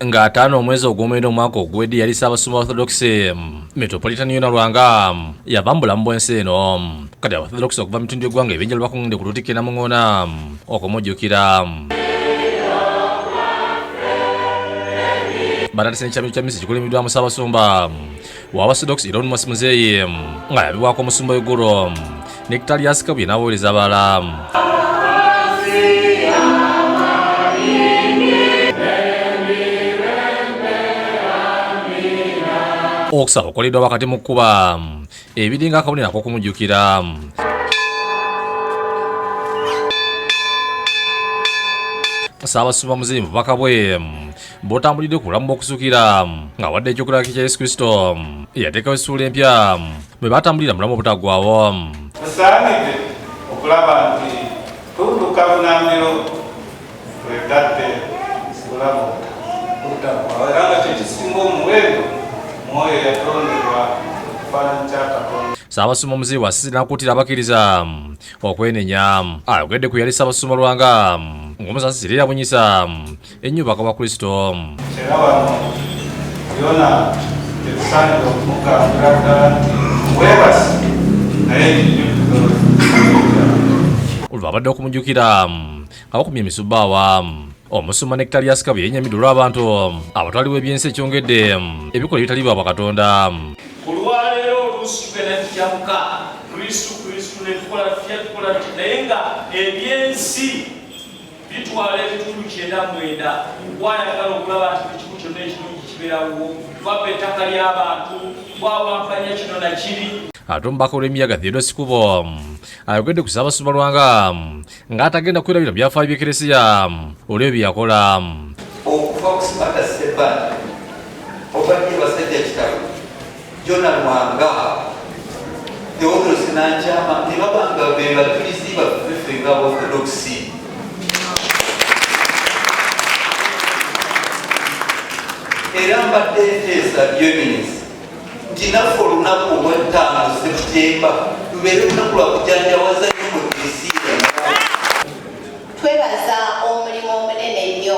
nga ataano omwezi ogwomwenda omwaka oguwedde yali ssaabasumba orthodox metropolitan yona lwanga yava mu bulamu bwensi eno kati abaorthodox okuva mu bitundu by'eggwanga ebyenjalo bakungende ku lutikka enamuŋoona okumujjukira batatise nekyamiro kya misi kikulimiddwamu ssaabasumba wabasodox elon mos muzeeyi nga yabibwako omusumba wegulu nekitalias kabye n'abaweereza abalala okusaba okukoleddwa wakati mu kkuba ebiringa akabonero ak'okumujjukira saabasumba muzimu bubaka bwe bw'otambulidde ku bulamu bw'okusukira nga wadde ekyokulabaki kya yesu kristo eyateekawo essuula empya bwe batambulira mulamu obutaggwawo tusaanidde okulaba nti tudduka bunamiro bwetadde bulamu obutaggwawo era nga kyekisinga omuwendo mwoyo yatondebwa okufaanana kya katonda Ssaabasumba Muzeeyi Wasisi n'akuutira abakkiriza okwenenya ayogedde ku yali Ssaabasumba Lwanga ng'omusasi Sirira Bunyisa ennyo bakaba kristo era wano yona tetusaanidde okumugambira ddala webasi naye olwabadde okumujjukira abakumye emisubaawa omusumba ne kitali asika bwe yenyamidde olw'abantu abatwaliwo ebyensi ekyongedde ebikola ebitali bwa bakatonda ku lwaleero oluusi tugenda tujamuka kristu kristu netukola tutya tukola naye nga ebyensi bitwala ebitundu kyenda mwenda gwayagala okulaba nti buli kimu kyonna ekirungi kibeerawo twabba ettaka ly'abantu bwawampanya kino nakiri ate omubaka olw'emiyaga theodosi kubo ayogedde ku ssaabasumba lwanga ng'atagenda kwerabira byafaayo by'ekeresiya olw'ebyo bye yakola okuva ku sibata sebbaani obadde basajja kitabo Jona Lwanga, Theodros Nankyama ne babanga be bajulizi baffe ffe nga Orthodoksi. Era mbadde nteesa byeminisi nti naffe olunaku olw'ettaano Septemba lubeere lunaku lwa kujanjawaza nnyo mu Eklezia. Twebaza omulimu omunene ennyo.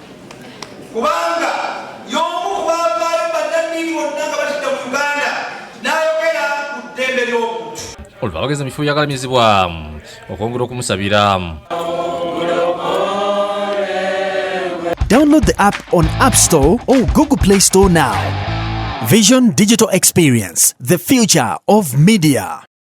kubanga y'omu ku baavaayo bannannyini bonna nga batidda mu uganda n'ayogera ku ddembe ly'obuntu olwo abagezi mu kifo byagalamizibwa okwongera okumusabira Download the app on App Store or Google Play Store now. Vision Digital Experience, the future of media.